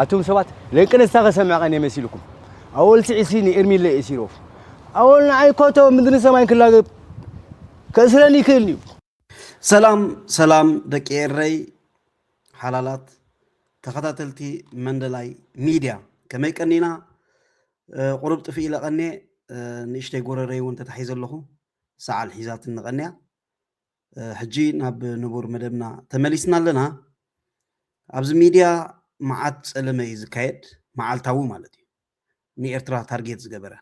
ኣቱም ሰባት ለንቅነስታ ከሰምዐ ቀኔ መሲልኩም ኣወል ስዒሲ ንኤርሚለ ኤሲሮፍ ኣወል ንዓይ ኮቶ ምድሪ ሰማይን ክላገብ ከእስረኒ ይክእል እዩ ሰላም ሰላም ደቂ ኤረይ ሓላላት ተኸታተልቲ መንደላይ ሚድያ ከመይ ቀኒና ቁሩብ ጥፊ ኢለ ቀኔ ንእሽተይ ጎረረይ እውን ተታሒዘ ኣለኹ ሰዓል ሒዛትኒ ቀንያ ሕጂ ናብ ንቡር መደብና ተመሊስና ኣለና። ኣብዚ ሚድያ መዓት ጸለመ እዩ ዝካየድ፣ መዓልታዊ ማለት እዩ። ንኤርትራ ታርጌት ዝገበረ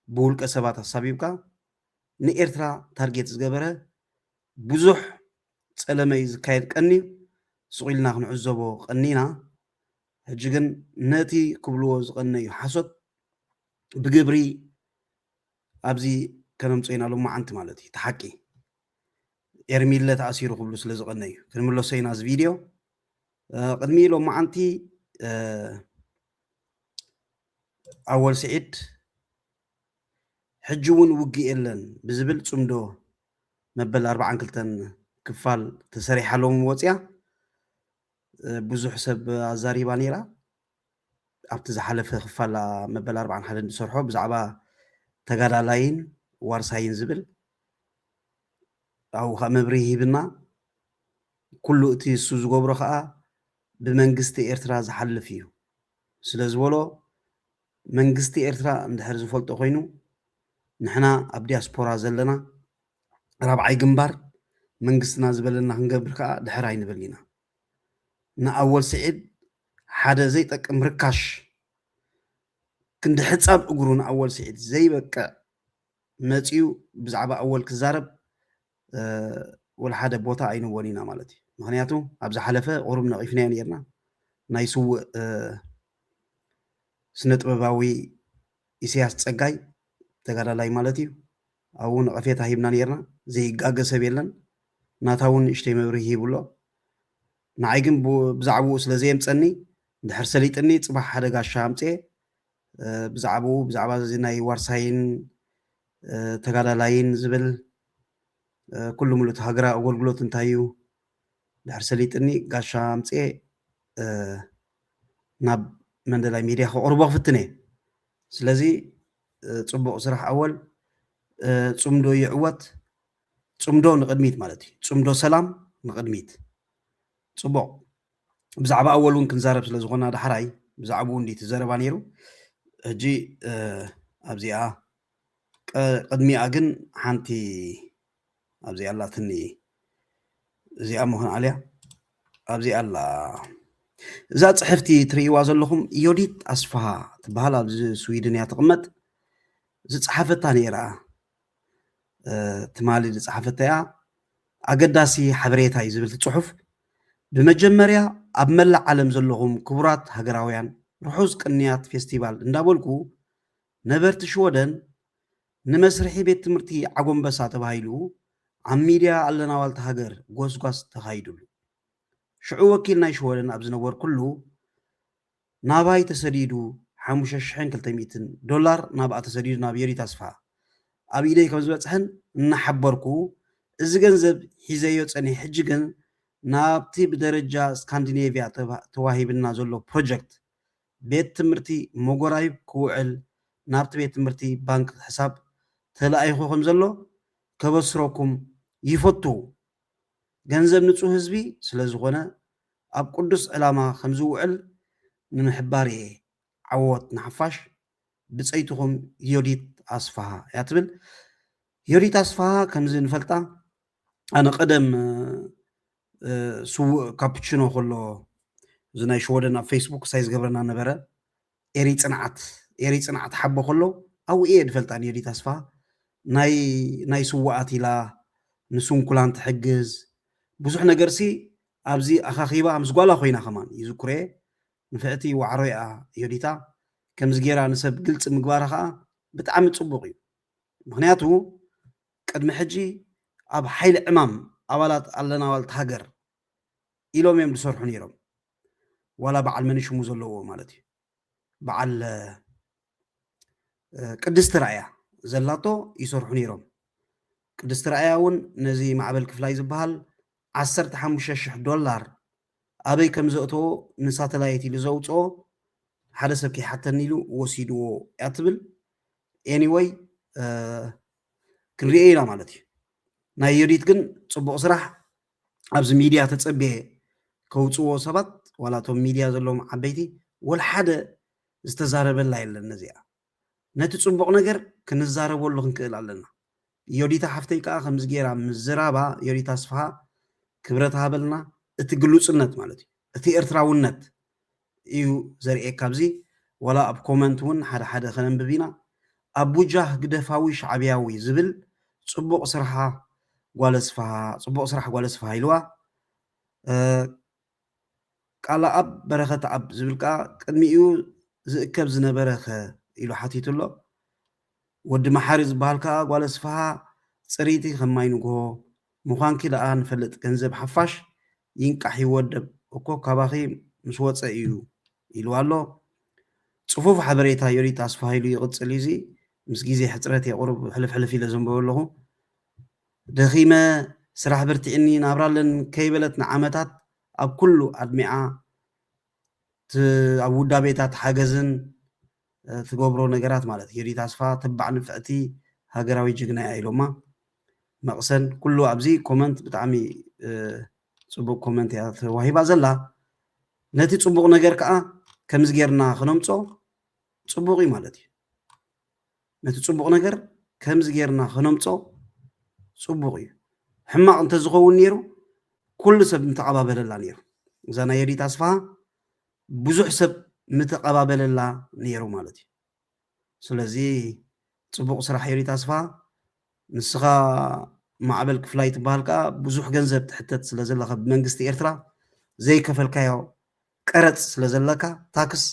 ብውልቀ ሰባት ኣሳቢብካ ንኤርትራ ታርጌት ዝገበረ ብዙሕ ጸለመ እዩ ዝካየድ ቀንዩ፣ ሱቕ ኢልና ክንዕዘቦ ቀኒና። ሕጂ ግን ነቲ ክብልዎ ዝቐነዩ ሓሶት ብግብሪ ኣብዚ ከነምጾኢና ሎማዓንቲ ማለት እዩ ታሓቂ ኤርሚለ ተኣሲሩ ክብሉ ስለ ዝቀነ እዩ ክንምለሶ ኢና እዚ ቪድዮ ቅድሚ ሎማዓንቲ ኣወል ስዒድ ሕጂ እውን ውግእ የለን ብዝብል ፅምዶ መበል ኣርባዓን ክልተን ክፋል ተሰሪሓ ሎሚ ወፅያ ብዙሕ ሰብ ኣዛሪባ ነይራ ኣብቲ ዝሓለፈ ክፋል መበል ኣርብዓን ሓደን ዝሰርሖ ብዛዕባ ተጋዳላይን ዋርሳይን ዝብል ኣብኡ ከዓ መብርሂ ሂብና ኩሉ እቲ እሱ ዝገብሮ ከዓ ብመንግስቲ ኤርትራ ዝሓልፍ እዩ ስለ ዝበሎ መንግስቲ ኤርትራ እንድሕር ዝፈልጦ ኮይኑ ንሕና ኣብ ዲያስፖራ ዘለና ራብዓይ ግንባር መንግስትና ዝበለና ክንገብር ከዓ ድሕር ኣይንብል ኢና ንኣወል ስዒድ ሓደ ዘይጠቅም ርካሽ ክንዲ ሕጻብ እግሩ ንኣወል ስዒድ ዘይበቅዕ መጺኡ ብዛዕባ ኣወል ክዛረብ ወላ ሓደ ቦታ ኣይንዎን ኢና ማለት እዩ ምክንያቱ ኣብ ዝሓለፈ ቁሩብ ነቒፍናዮ ነርና ናይ ስውእ ስነ ጥበባዊ ኢሳያስ ጸጋይ ተጋዳላይ ማለት እዩ ኣብኡ ነቐፌታ ሂብና ኔርና ዘይጋገ ሰብ የለን ናታ ውን ንእሽተይ መብርሂ ሂቡ ኣሎ ንዓይ ግን ብዛዕብኡ ስለ ዘየምጸኒ እንድሕር ሰሊጥኒ ጽባሕ ሓደ ጋሻ ኣምጽኤ ብዛዕብኡ ብዛዕባ እዚ ናይ ዋርሳይን ተጋዳላይን ዝብል ኩሉ ሙሉ እቲ ሃገራዊ ኣገልግሎት እንታይ እዩ ድሕር ሰሊጥኒ ጋሻ ኣምፅኤ ናብ መንደላይ ሚድያ ከቕርቦ ክፍትን እየ ስለዚ ጽቡቅ ስራሕ ኣወል ጽምዶ ይዕወት ጽምዶ ንቅድሚት ማለት እዩ ጽምዶ ሰላም ንቅድሚት ጽቡቅ ብዛዕባ ኣወል እውን ክንዛረብ ስለ ዝኾና ዳሕራይ ብዛዕባኡ እንዲ ትዘረባ ነይሩ ሕጂ ኣብዚኣ ቅድሚኣ ግን ሓንቲ ኣብዚ ኣላትኒ እዚኣ እሞ ክንዓልያ ኣብዚ ኣላ እዛ ፅሕፍቲ ትርእይዋ ዘለኹም ዮዲት ኣስፋሃ ትበሃል ኣብዚ ስዊድን እያ ትቕመጥ ዝፀሓፈታ ነይራ ትማሊ ዝፀሓፈታ እያ ኣገዳሲ ሓበሬታ እዩ ዝብል ፅሑፍ ብመጀመርያ ኣብ መላእ ዓለም ዘለኹም ክቡራት ሃገራውያን ርሑስ ቅንያት ፌስቲቫል እንዳበልኩ ነበርቲ ሽወደን ንመስርሒ ቤት ትምህርቲ ዓጎምበሳ ተባሂሉ ኣብ ሚድያ ኣለና ዋልታ ሃገር ጎስጓስ ተኻይዱሉ። ሽዑ ወኪል ናይ ሽወደን ኣብ ዝነበርኩሉ ናባይ ተሰዲዱ ሓሙሽተ ሽሕን ክልተ ሚእትን ዶላር ናብኣ ተሰዲዱ ናብ የሪት ኣስፍሃ ኣብ ኢደይ ከም ዝበፅሐን እናሓበርኩ እዚ ገንዘብ ሒዘዮ ፀኒሐ ሕጂ ግን ናብቲ ብደረጃ ስካንዲኔቭያ ተዋሂብና ዘሎ ፕሮጀክት ቤት ትምህርቲ ሞጎራይብ ክውዕል ናብቲ ቤት ትምህርቲ ባንክ ሕሳብ ተላኢኹ ከምዘሎ ከበስረኩም ይፈቱ። ገንዘብ ንፁህ ህዝቢ ስለዝኾነ ኣብ ቅዱስ ዕላማ ከምዝውዕል ንምሕባር እየ። ዓወት ንሓፋሽ! ብፀይትኹም ዮዲት ኣስፍሃ እያ ትብል። ዮዲት ኣስፍሃ ከምዚ ንፈልጣ ኣነ ቀደም ስዉእ ካፑቺኖ ከሎ እዚ ናይ ሽወደን ኣብ ፈይስቡክ ሳይ ዝገብረና ነበረ ኤሪ ጽንዓት ኤሪ ጽንዓት ሓቦ ከሎ ኣብኡ እየ ድፈልጣ ንየዲ ተስፋ ናይ ናይ ስዉኣት ኢላ ንስንኩላን ትሕግዝ ብዙሕ ነገርሲ ኣብዚ ኣኻኺባ ምስ ጓላ ኮይና ከማን ይዝኩረየ ንፍዕቲ ዋዕሮ እያ ዮዲታ ከምዚ ጌራ ንሰብ ግልጺ ምግባራ ከኣ ብጣዕሚ ጽቡቕ እዩ ምክንያቱ ቅድሚ ሕጂ ኣብ ሓይሊ ዕማም ኣባላት ኣለናዋልት ሃገር ኢሎም እዮም ዝሰርሑ ነይሮም ዋላ በዓል መንሽሙ ዘለዎ ማለት እዩ በዓል ቅድስቲ ራእያ ዘላቶ ይሰርሑ ነይሮም ቅድስቲ ራእያ እውን ነዚ ማዕበል ክፍላይ ዝበሃል ዓሰርተ ሓሙሽተ ሽሕ ዶላር ኣበይ ከም ዘእተዎ ንሳተላይት ኢሉ ዘውፅኦ ሓደ ሰብ ከይሓተኒ ኢሉ ወሲድዎ እያ ትብል ኤኒወይ ክንሪኦ ኢና ማለት እዩ ናይ ዮዲት ግን ፅቡቅ ስራሕ ኣብዚ ሚድያ ተፀብየ ከውፅዎ ሰባት ዋላ እቶም ሚድያ ዘለዎም ዓበይቲ ወልሓደ ዝተዛረበላ የለን ነዚኣ ነቲ ፅቡቅ ነገር ክንዛረበሉ ክንክእል ኣለና ዮዲታ ሓፍተይ ከዓ ከምዚ ገይራ ምዝራባ ዮዲት ኣስፍሃ ክብረት ሃበልና እቲ ግሉፅነት ማለት እዩ እቲ ኤርትራውነት እዩ ዘርእየካ ኣብዚ ዋላ ኣብ ኮመንት ውን ሓደ ሓደ ከነንብብ ኢና ኣብ ቡጃ ህግደፋዊ ሻዕብያዊ ዝብል ጽቡቅ ስርሓ ጓል ኣስፍሃ ጽቡቅ ስራሕ ጓል ኣስፍሃ ኢልዋ ቃላኣብ በረኸትኣብ ዝብል ከኣ ቅድሚኡ ዝእከብ ዝነበረ ከ ኢሉ ሓቲቱ ኣሎ ወዲ መሓሪ ዝበሃል ከኣ ጓል ኣስፍሃ ጽሪቲ ከም ማይ ንግሆ ሙኻንኪ ደኣ ንፈልጥ ገንዘብ ሓፋሽ ይንቃሕ ይወደብ እኮ ካባኺ ምስ ወጸ ኢዩ ኢልዋ ኣሎ ጽፉፍ ሓበሬታ ዮዲት ኣስፍሃይሉ ይቕጽል ኢዩ እዚ ምስ ግዜ ሕጽረት ኢየ ቁሩብ ሕልፍ ሕልፍ ኢለ ዘንብቦ ኣለኹ ደኺመ ስራሕ በርቲዕኒ ናብራ ኣለን ከይበለት ንዓመታት ኣብ ኩሉ ኣድሚዓ ኣብ ውዳቤታት ሓገዝን ትገብሮ ነገራት ማለት ሂሩት ኣስፋ ተባዕ ንፍዕቲ ሃገራዊት ጅግና እያ ኢሎማ መቅሰን ኩሉ ኣብዚ ኮመንት ብጣዕሚ ጽቡቅ ኮመንት እያ ተዋሂባ ዘላ ነቲ ጽቡቅ ነገር ከኣ ከምዚ ጌርና ክነምጾ ጽቡቅ እዩ ማለት እዩ ነቲ ጽቡቅ ነገር ከምዚ ጌርና ክነምጾ ጽቡቅ እዩ ሕማቅ እንተዝኸውን ነይሩ ኩሉ ሰብ ምተቀባበለላ ነይሩ እዛ ናይ የዲት ኣስፋሃ ብዙሕ ሰብ ምተቀባበለላ ነይሩ ማለት እዩ ስለዚ ጽቡቅ ስራሕ ኤሪ ታስፋ ንስኻ ማዕበል ክፍላይ ትበሃል ከኣ ብዙሕ ገንዘብ ትሕተት ስለ ዘለኻ ብመንግስቲ ኤርትራ ዘይከፈልካዮ ቀረጽ ስለ ዘለካ ታክስ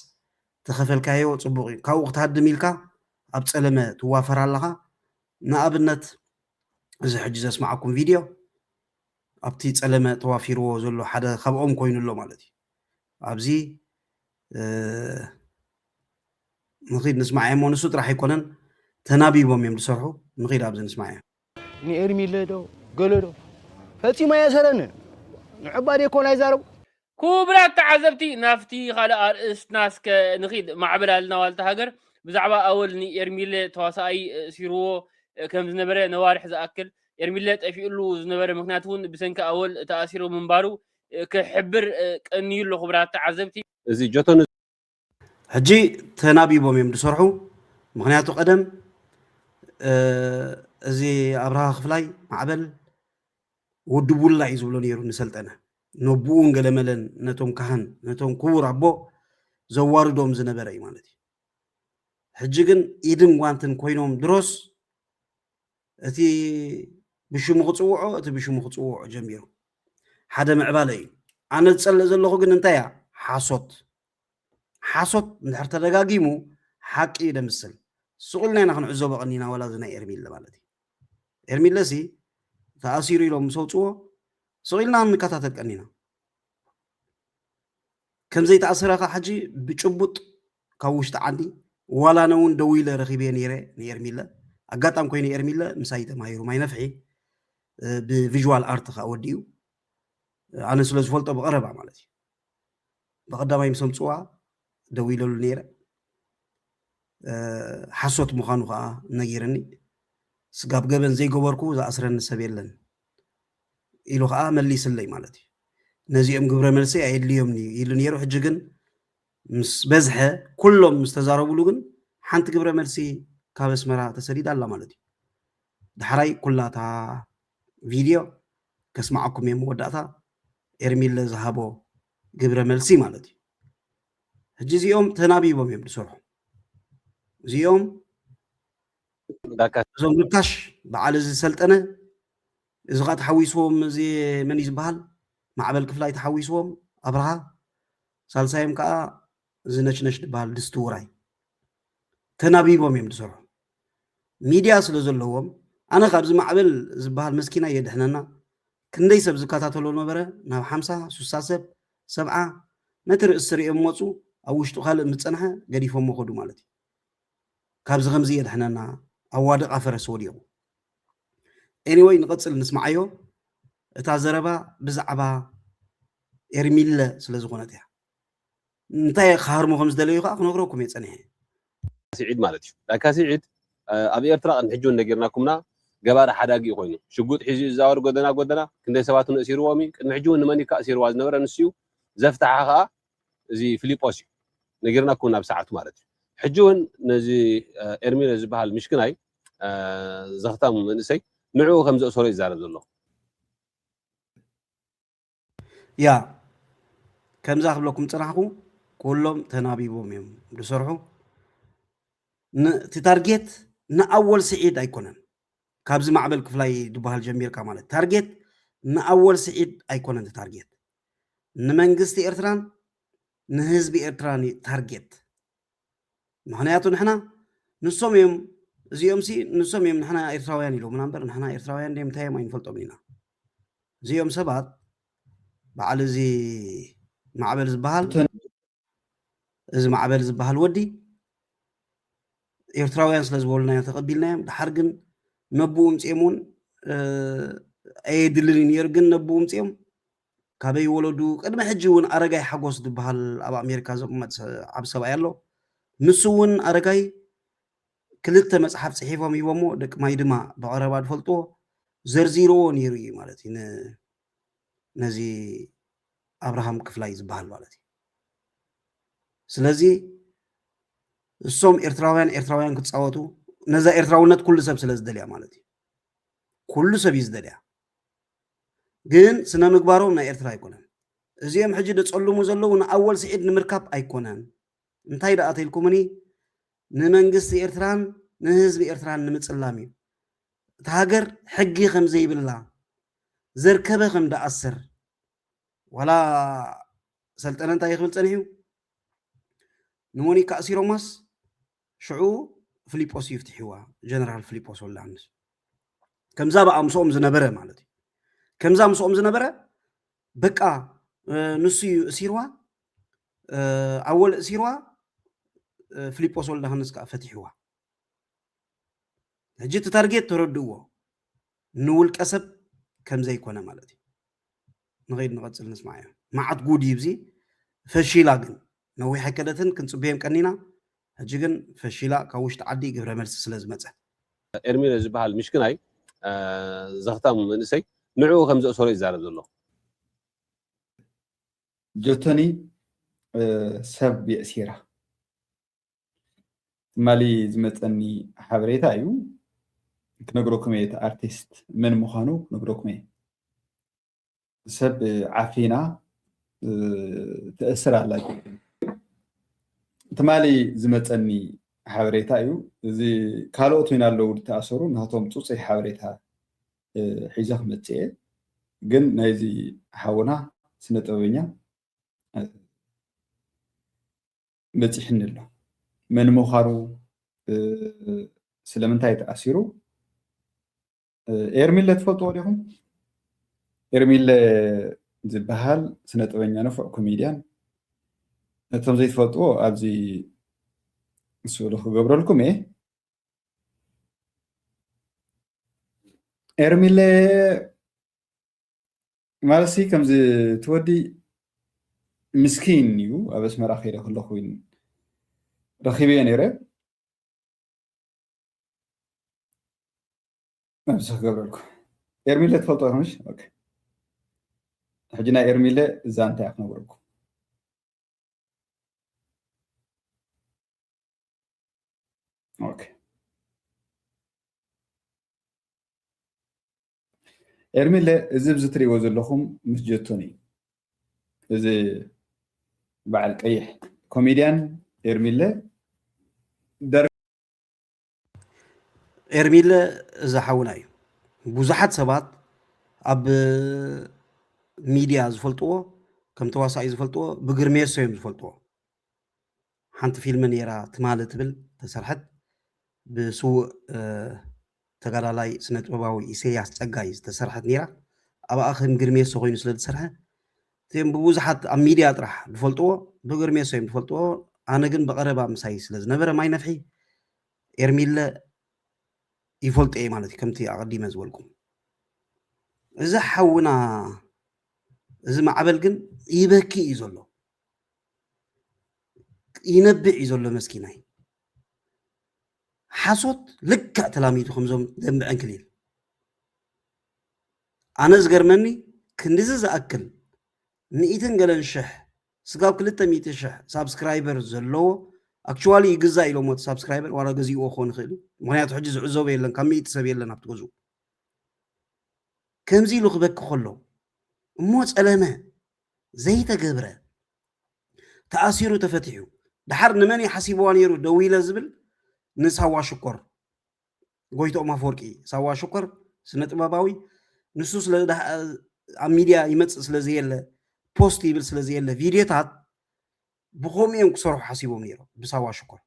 ተኸፈልካዮ ጽቡቅ እዩ ካብኡ ክትሃድም ኢልካ ኣብ ጸለመ ትዋፈር ኣለኻ ንኣብነት እዚ ሕጂ ዘስማዓኩም ቪድዮ ኣብቲ ጸለመ ተዋፊርዎ ዘሎ ሓደ ካብኦም ኮይኑ ኣሎ ማለት እዩ ኣብዚ ንኺድ ንስማዕ እሞ ንሱ ጥራሕ ኣይኮነን ተናቢቦም እዮም ዝሰርሑ ንኺድ ኣብዚ ንስማዕ እዮም ንኤርሚለ ዶ ገለ ዶ ፈጺሙ ኣየሰረንን ንዕባ ደይኮን ኣይዛረቡ ኩቡራት ተዓዘብቲ ናብቲ ካልእ ኣርእስትና እስከ ንኺድ ማዕበል ኣልና ዋልታ ሃገር ብዛዕባ ኣወል ንኤርሚለ ተዋሳኣይ እሲርዎ ከምዝነበረ ነዋርሕ ዝኣክል ኤርሚለ ጠፊኡሉ ዝነበረ ምክንያት እውን ብሰንኪ ኣወል ተኣሲሩ ምንባሩ ክሕብር ቀንዩ ኣሎ ክቡራት ተዓዘብቲ። እዚ ጆቶኒ ሕጂ ተናቢቦም እዮም ዝሰርሑ ምክንያቱ ቀደም እዚ ኣብርሃ ክፍላይ ማዕበል ወድቡላ እዩ ዝብሎ ነይሩ ንሰልጠነ ነቡኡን ገለመለን ነቶም ካህን ነቶም ክቡር ኣቦ ዘዋርዶም ዝነበረ እዩ ማለት እዩ ሕጂ ግን ኢድን ጓንትን ኮይኖም ድሮስ እቲ ብሽሙ ክጽውዖ እቲ ብሽሙ ክጽውዖ ጀሚሩ ሓደ ምዕባለ እዩ ኣነ ዝጸልእ ዘለኹ ግን እንታይ እያ ሓሶት ሓሶት እንድሕር ተደጋጊሙ ሓቂ እዩ ደምስል ስቕ ኢልና ኢና ክንዕዘቦ ቀኒና ዋላ እዚ ናይ ኤርሚለ ማለት እዩ ኤርሚለ ሲ ተኣሲሩ ኢሎም ምስ ኣውፅዎ ስቕ ኢልና ንከታተል ቀኒና ከምዘይተኣሰረ ከዓ ሕጂ ብጭቡጥ ካብ ውሽጢ ዓዲ ዋላ ኣነ እውን ደው ኢለ ረኺበዮ ነይረ ንኤርሚለ ኣጋጣሚ ኮይኑ ኤርሚለ ምሳይ ተማሂሩ ማይ ነፍሒ ብቪዥዋል ኣርት ከዓ ወዲኡ ኣነ ስለ ዝፈልጦ ብቐረባ ማለት እዩ ብቐዳማይ ምስ ኣምፅዋ ደው ኢለሉ ነይረ ሓሶት ምዃኑ ከዓ ነጊርኒ ስጋብ ገበን ዘይገበርኩ ዝኣስረኒ ሰብ የለን ኢሉ ከዓ መሊስለይ ማለት እዩ ነዚኦም ግብረ መልሲ ኣየድልዮም ኢሉ ነይሩ ሕጂ ግን ምስ በዝሐ ኩሎም ምስ ተዛረብሉ ግን ሓንቲ ግብረ መልሲ ካብ ኣስመራ ተሰዲዳ ኣላ ማለት እዩ ዳሕራይ ኩላ እታ ቪድዮ ከስማዓኩም እየ መወዳእታ ኤርሚለ ዝሃቦ ግብረ መልሲ ማለት እዩ ሕጂ እዚኦም ተናቢቦም እዮም ዝሰርሑ እዚኦም እዞም ርካሽ በዓል እዚ ሰልጠነ እዚ ከዓ ተሓዊስዎም እዚ መን እዩ ዝበሃል ማዕበል ክፍላይ ተሓዊስዎም ኣብርሃ ሳልሳዮም ከኣ እዚ ነሽነሽ ድበሃል ድስቲ ውራይ ተናቢቦም እዮም ድሰርሑ ሚድያ ስለ ዘለዎም ኣነ ካብዚ ማዕበል ዝበሃል መስኪናይ የድሕነና ክንደይ ሰብ ዝከታተሎ ነበረ ናብ ሓምሳ ሱሳ ሰብ ሰብዓ ነቲ ርእሲ ርእዮም መጹ ኣብ ውሽጡ ካልእ ምስ ጸንሐ ገዲፎሞ ከዱ ማለት እዩ ካብዚ ከምዚ የድሕነና ኣዋድቃ ፈረስ ወዲቁ ኤኒወይ ንቐጽል ንስምዓዮ እታ ዘረባ ብዛዕባ ኤርሚለ ስለ ዝኾነት እያ እንታይ ክሃርሞ ከም ዝደለዩ ከዓ ክነግረኩም እየ ጸኒሐ ስዒድ ማለት እዩ ላካ ስዒድ ኣብ ኤርትራ ቅድሚ ሕጂ እውን ነጊርናኩምና ገባሪ ሓዳጊ እዩ ኮይኑ ሽጉጥ ሒዙ እዩ ዝዛወር ጎደና ጎደና ክንደይ ሰባት እውን እእሲርዎም እዩ ቅድሚ ሕጂ እውን ንመን እዩ ከእሲርዋ ዝነበረ ንሱ እዩ ዘፍትሓ ከዓ እዚ ፍሊጶስ እዩ ነጊርናኩም ናብ ሰዓቱ ማለት እዩ ሕጂ ውን ነዚ ኤርሚለ ዝበሃል ምሽክናይ ዘኽታም መንእሰይ ንዕኡ ከም ዘእሰሮ እዩ ዝዛረብ ዘሎ ያ ከምዛ ክብለኩም ጽናሕኩ ኩሎም ተናቢቦም እዮም ዝሰርሑ እቲ ታርጌት ንኣወል ስዒድ ኣይኮነን ካብዚ ማዕበል ክፍላይ ዝበሃል ጀሚርካ ማለት ታርጌት ንኣወል ስዒድ ኣይኮነን እቲ ታርጌት ንመንግስቲ ኤርትራን ንህዝቢ ኤርትራን እዩ ታርጌት ምኽንያቱ ንሕና ንሶም እዮም እዚኦምሲ ንሶም እዮም ንሕና ኤርትራውያን ኢሎምና እምበር ንሕና ኤርትራውያን ድዮም እንታይ እዮም ኣይንፈልጦም ኢና እዚኦም ሰባት በዓል እዚ ማዕበል ዝበሃል እዚ ማዕበል ዝበሃል ወዲ ኤርትራውያን ስለ ዝበሉና ተቐቢልናዮም ድሓር ግን ነብኡ ምፅኦም እውን ኣየድልን እዩ ነይሩ ግን ነብኡ ምፅኦም ካበይ ወለዱ ቅድሚ ሕጂ እውን ኣረጋይ ሓጎስ ዝበሃል ኣብ ኣሜሪካ ዝቕመጥ ዓብ ሰብኣይ ኣሎ ንሱ እውን ኣረጋይ ክልተ መፅሓፍ ፅሒፎም ሂቦሞ ደቂ ማይድማ ብቐረባ ዝፈልጥዎ ዘርዚርዎ ነይሩ እዩ ማለት እዩ ነዚ ኣብርሃም ክፍላይ ዝበሃል ማለት እዩ ስለዚ እሶም ኤርትራውያን ኤርትራውያን ክፃወቱ ነዛ ኤርትራውነት ኩሉ ሰብ ስለ ዝደልያ ማለት እዩ ኩሉ ሰብ እዩ ዝደልያ ግን ስነ ምግባሮም ናይ ኤርትራ ኣይኮነን እዚኦም ሕጂ ደፀልሙ ዘለዉ ንኣወል ስዒድ ንምርካብ ኣይኮነን እንታይ ደኣ ተኢልኩምኒ ንመንግስቲ ኤርትራን ንህዝቢ ኤርትራን ንምፅላም እዩ እቲ ሃገር ሕጊ ከምዘይብላ ዘርከበ ከም ድኣሰር ዋላ ሰልጠነ እንታይ ክብል ጸኒሑ ንሞኒካ ኣሲሮማስ ሽዑ ፍሊጶስ እዩ ፍትሒዋ ጀነራል ፍሊጶስ ወላንስ ከምዛ በኣ ምስኦም ዝነበረ ማለት እዩ ከምዛ ምስኦም ዝነበረ በቃ ንሱ እዩ እሲርዋ ኣወል እሲርዋ ፍሊጶስ ወልዳሃንስ ከዓ ፈቲሕዋ ሕጂ እቲ ታርጌት ተረድእዎ ንውልቀ ሰብ ከምዘይኮነ ማለት እዩ ንኸይድ ንቐፅል ንስማዕዮ መዓት ጉድ እዩ ብዚ ፈሺላ ግን ነዊሕ ኣይከደትን ክንፅበዮም ቀኒና ሕጂ ግን ፈሺላ ካብ ውሽጢ ዓዲ ግብረ መልሲ ስለ ዝመፀ ኤርሚለ ዝበሃል ምሽክናይ ዘኽታም መንእሰይ ንዕኡ ከም ዘእሰሮ ይዛረብ ዘሎ። ጆቶኒ ሰብ የእሲራ። ትማሊ ዝመፀኒ ሓበሬታ እዩ ክነግረኩም እየ እቲ ኣርቲስት መን ምዃኑ ክነግረኩም እየ ሰብ ዓፊና ተእስር ኣላ ትማሊ ዝመፀኒ ሓበሬታ እዩ እዚ ካልኦት ወይና ኣለዉ ዝተኣሰሩ ናቶም ፅፁይ ሓበሬታ ሒዞ ክመፅእ እየ ግን ናይዚ ሓውና ስነ ጥበበኛ በጺሕኒ ኣሎ። መን ምዃኑ ስለምንታይ ተኣሲሩ ኤርሚለ ትፈልጥዎ ዲኹም? ኤርሚለ ዝበሃል ስነ ጥበኛ ንፉዕ ኮሜድያን ነቶም ዘይትፈልጥዎ ኣብዚ ስእሉ ክገብረልኩም እየ ኤርሚለ ማለትሲ ከምዚ እቲ ወዲ ምስኪን እዩ ኣብ ኣስመራ ከይደ ከለኹ ረኺበዮ ነይረ ነብሲ ክገብረልኩ ኤርሚለ ትፈልጦ ኢኹምሽ ሕጂ ናይ ኤርሚለ እዛ እንታይ ክነግረኩም ኦኬ ኤርሚለ እዚ ኣብዚ ትሪእዎ ዘለኹም ምስ ጀቶኒ እዩ እዚ በዓል ቀይሕ ኮሜድያን ኤርሚለ ኤርሚለ እዚ ሓውና እዩ ብዙሓት ሰባት ኣብ ሚድያ ዝፈልጥዎ ከም ተዋሳኢ ዝፈልጥዎ ብግርሜሶ እዮም ዝፈልጥዎ ሓንቲ ፊልሚ ነይራ ትማሊ ትብል ተሰርሐት ብስዉእ ተጋዳላይ ስነ ጥበባዊ ኢሰያስ ጸጋይ ዝተሰርሐት ነይራ ኣብኣ ከም ግርሜሶ ኮይኑ ስለ ዝሰርሐ እቲኦም ብብዙሓት ኣብ ሚድያ ጥራሕ ዝፈልጥዎ ብግርሜሶ እዮም ዝፈልጥዎ ኣነ ግን ብቐረባ ምሳይ ስለ ዝነበረ ማይ ነፍሒ ኤርሚለ ይፈልጦ እየ ማለት እዩ ከምቲ ኣቐዲመ ዝበልኩም እዚ ሓውና እዚ ማዕበል ግን ይበኪ እዩ ዘሎ ይነብዕ እዩ ዘሎ መስኪናይ ሓሶት ልክዕ ተላሚዱ ከምዞም ደንበ ዕንክሊል ኣነ ዝገርመኒ ክንዲዚ ዝኣክል ሚእትን ገለን ሽሕ ስጋብ ክልተ ሚእቲ ሽሕ ሳብስክራይበር ዘለዎ ኣክቹዋሊ ይግዛእ ኢሎሞ እቲ ሳብስክራይበር ዋላ ገዚእዎ ክኾን ይኽእል እዩ ምክንያቱ ሕጂ ዝዕዘቦ የለን ካብ ሚእቲ ሰብ የለን ኣብቲ ገዝኡ ከምዚ ኢሉ ክበኪ ከሎ እሞ ፀለመ ዘይተገብረ ተኣሲሩ ተፈቲሑ ደሓር ንመን እዩ ሓሲብዋ ነይሩ ደዊለ ዝብል ንሳዋ ሽኮር ጎይትኦም ኣፈወርቂ ሳዋ ሽኮር ስነ ጥበባዊ ንሱ ስለ ኣብ ሚድያ ይመፅእ ስለ ዘየለ ፖስት ይብል ስለ ዘየለ ቪድዮታት ብከምኡ እዮም ክሰርሑ ሓሲቦም ነይሮም ብሳዋ ሽኮር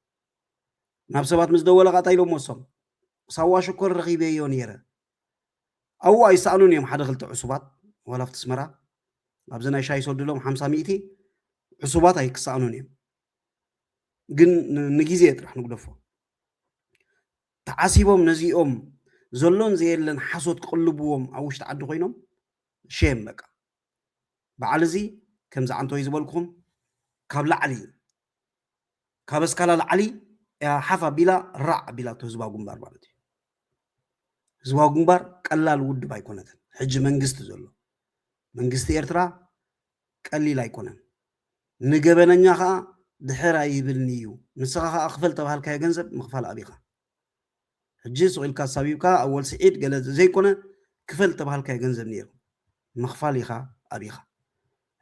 ናብ ሰባት ምስ ደወለ ቃጣ ኢሎም ወሶም ሳዋ ሽኮር ረኺበዮ ነይረ ኣዉ ኣይሰኣኑን እዮም ሓደ ክልተ ዕሱባት ዋላ ኣብቲ ኣስመራ ኣብዚ ናይ ሻሂ ሰዱ ኢሎም ሓምሳ ሚእቲ ዕሱባት ኣይክሰኣኑን እዮም ግን ንግዜ ጥራሕ ንጉደፎ ተዓሲቦም ነዚኦም ዘሎን ዘየለን ሓሶት ክቕልብዎም ኣብ ውሽጢ ዓዲ ኮይኖም ሼም በቃ በዓል እዚ ከምዚ ዓንተወይ ዝበልኩም ካብ ላዕሊ ካብ ኣስካላ ላዕሊ እያ ሓፍ ኣቢላ ራዕ ኣቢላቶ ህዝባዊ ግንባር ማለት እዩ ህዝባዊ ግንባር ቀላል ውድብ ኣይኮነትን ሕጂ መንግስቲ ዘሎ መንግስቲ ኤርትራ ቀሊል ኣይኮነን ንገበነኛ ከዓ ድሕር ኣይብልኒ እዩ ንስኻ ከዓ ክፈል ተባሃልካዮ ገንዘብ ምኽፋል ኣቢኻ ሕጂ ስቕ ኢልካ ኣሳቢብካ ኣወል ስዒድ ገለ ዘይኮነ ክፈል ዝተባሃልካዮ ገንዘብ ኔሩ ምኽፋል ኢኻ ኣቢኻ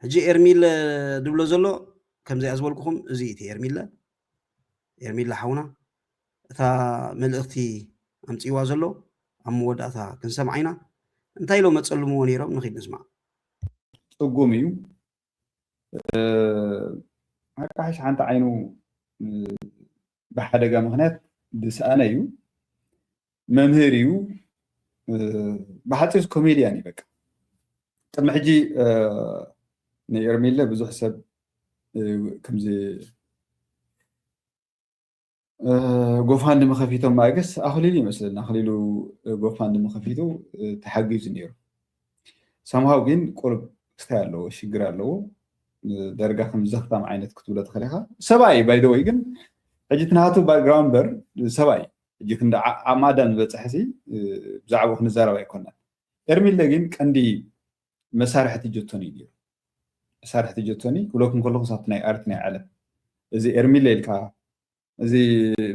ሕጂ ኤርሚለ ድብሎ ዘሎ ከምዚኣ ዝበልኩኹም እዚ እቲ ኤርሚለ ኤርሚለ ሓውና እታ መልእኽቲ ኣምጺዋ ዘሎ ኣብ መወዳእታ ክንሰምዓ ኢና እንታይ ኢሎም ኣጸልምዎ ኔሮም ንኺድ ንስማዕ ጽጉም እዩ ኣቃሓሽ ሓንቲ ዓይኑ ብሓደጋ ምክንያት ዝሰኣነ እዩ መምህር እዩ ብሓፂር ኮሜድያን እዩ በቃ ቅድሚ ሕጂ ንኤርሚለ ብዙሕ ሰብ ከምዚ ጎፋንድሚ ከፊቶም ማእገስ ኣኽሊሉ ይመስለኒ ኣኽሊሉ ጎፋንድሚ ከፊቱ ተሓጊዙ ነይሩ ሰምሃው ግን ቁርብ ክስታይ ኣለዎ ሽግር ኣለዎ ደርጋ ከም ዘኽታም ዓይነት ክትብሎ ትኽእል ኢኻ ሰብኣይ ባይደወይ ግን ሕጂ ትናቱ ባክግራውንድ በር ሰብኣይ ሕጂ ክንዲ ኣብ ማዳን ዝበፅሐ ሲ ብዛዕባ ክንዛረብ ኣይኮናን ኤርሚለ ግን ቀንዲ መሳርሕቲ ጆቶኒ እዩ ጌሩ መሳርሕቲ ጆቶኒ ክብለኩም ከለኩ ሳብቲ ናይ ኣርት ናይ ዓለም እዚ ኤርሚለ ኢልካ እዚ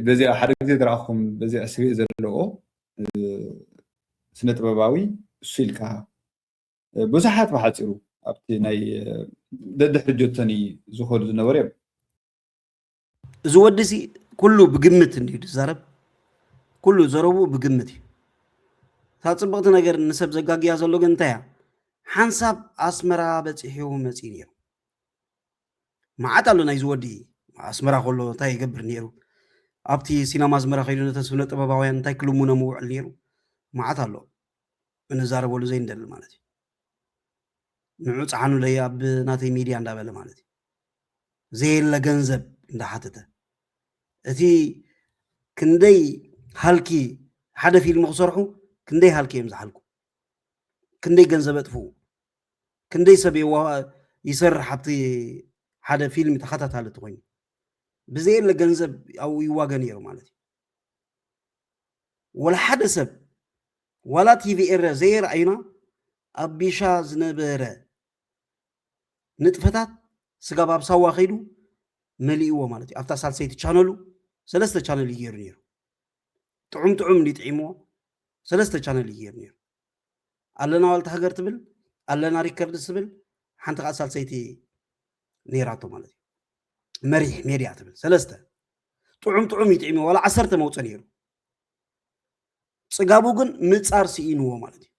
በዚኣ ሓደ ግዜ ዝረኣኹም በዚኣ ስቤ ዘለዎ ስነ ጥበባዊ እሱ ኢልካ ብዙሓት ብሓፂሩ ኣብቲ ናይ ደድሕሪ ጆቶኒ ዝኸዱ ዝነበሩ እዮም እዚ ወዲ እዚ ኩሉ ብግምት እንድዩ ዝዛረብ ኩሉ ዘረብኡ ብግምት እዩ እታ ፅብቕቲ ነገር ንሰብ ዘጋግያ ዘሎ ግን እንታይ እያ ሓንሳብ ኣስመራ በፂሑ መፂኡ ነይሩ መዓት ኣሎ ናይዚ ወዲ ኣስመራ ከሎ እንታይ ይገብር ነይሩ ኣብቲ ሲናማ ኣስመራ ከይዱ ነተን ስነ ጥበባውያን እንታይ ክልሙኖ ምውዕል ነይሩ መዓት ኣሎ እንዛረበሉ ዘይንደሊ ማለት እዩ ንዑ ፀዓኑለይ ኣብ ናተይ ሚድያ እንዳበለ ማለት እዩ ዘየለ ገንዘብ እንዳሓተተ እቲ ክንደይ ሃልኪ ሓደ ፊልም ክሰርሑ ክንደይ ሃልኪ እዮም ዝሓልኩ ክንደይ ገንዘብ ኣጥፍኡ ክንደይ ሰብ ይሰርሕ ኣብቲ ሓደ ፊልም ተኸታታሊ ትኮይኑ ብዘየለ ገንዘብ ኣብኡ ይዋገ ነይሩ ማለት እዩ ወላ ሓደ ሰብ ዋላ ቲቪ ኤረ ዘየርኣዩና ኣብ ቢሻ ዝነበረ ንጥፈታት ስጋብ ኣብ ሳዋ ከይዱ መሊእዎ ማለት እዩ ኣብታ ሳልሰይቲ ቻነሉ ሰለስተ ቻነል እዩ ገይሩ ነይሩ ጥዑም ጥዑም እንዲ ጥዒምዎ ሰለስተ ቻነል እዩ ገይሩ ነይሩ ኣለና ዋልታ ሃገር ትብል ኣለና ሪከርድስ ትብል ሓንቲ ከዓ ሳልሰይቲ ነይራቶ ማለት እዩ መሪሕ ሜድያ ትብል ሰለስተ ጥዑም ጥዑም እዩ ጥዒምዎ ዋላ ዓሰርተ መውፀ ነይሩ ፅጋቡ ግን ምፃር ስኢንዎ ማለት እዩ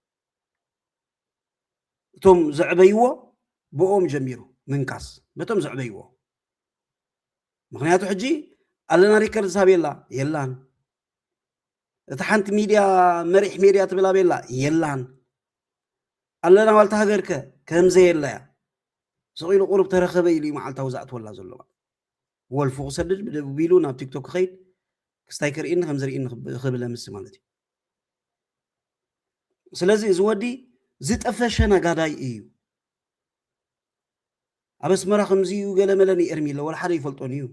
እቶም ዘዕበይዎ ብኦም ጀሚሩ ምንካስ በቶም ዘዕበይዎ ምክንያቱ ሕጂ ኣለና ሪከርድ ሳቤላ የላን እቲ ሓንቲ ሚድያ መሪሕ ሜድያ ትብል ኣቤላ የላን ኣለና ዋልታ ሃገርከ ከምዘየላ እያ ስቂሉ ቁሩብ ተረኸበ ኢሉ መዓልታዊ ዝኣትወላ ዘሎ ወልፉ ክሰድድ ብደቡብ ኢሉ ናብ ቲክቶክ ክኸይድ ክስታይ ክርእኒ ከምዝርእኒ ክብለ ምስ ማለት እዩ ስለዚ እዚ ወዲ ዝጠፈሸ ነጋዳይ እዩ። ኣብ ኣስመራ ከምዚ እዩ ገለ መለ ንኤርሚ ኢለ ወላ ሓደ ይፈልጦን እዩ።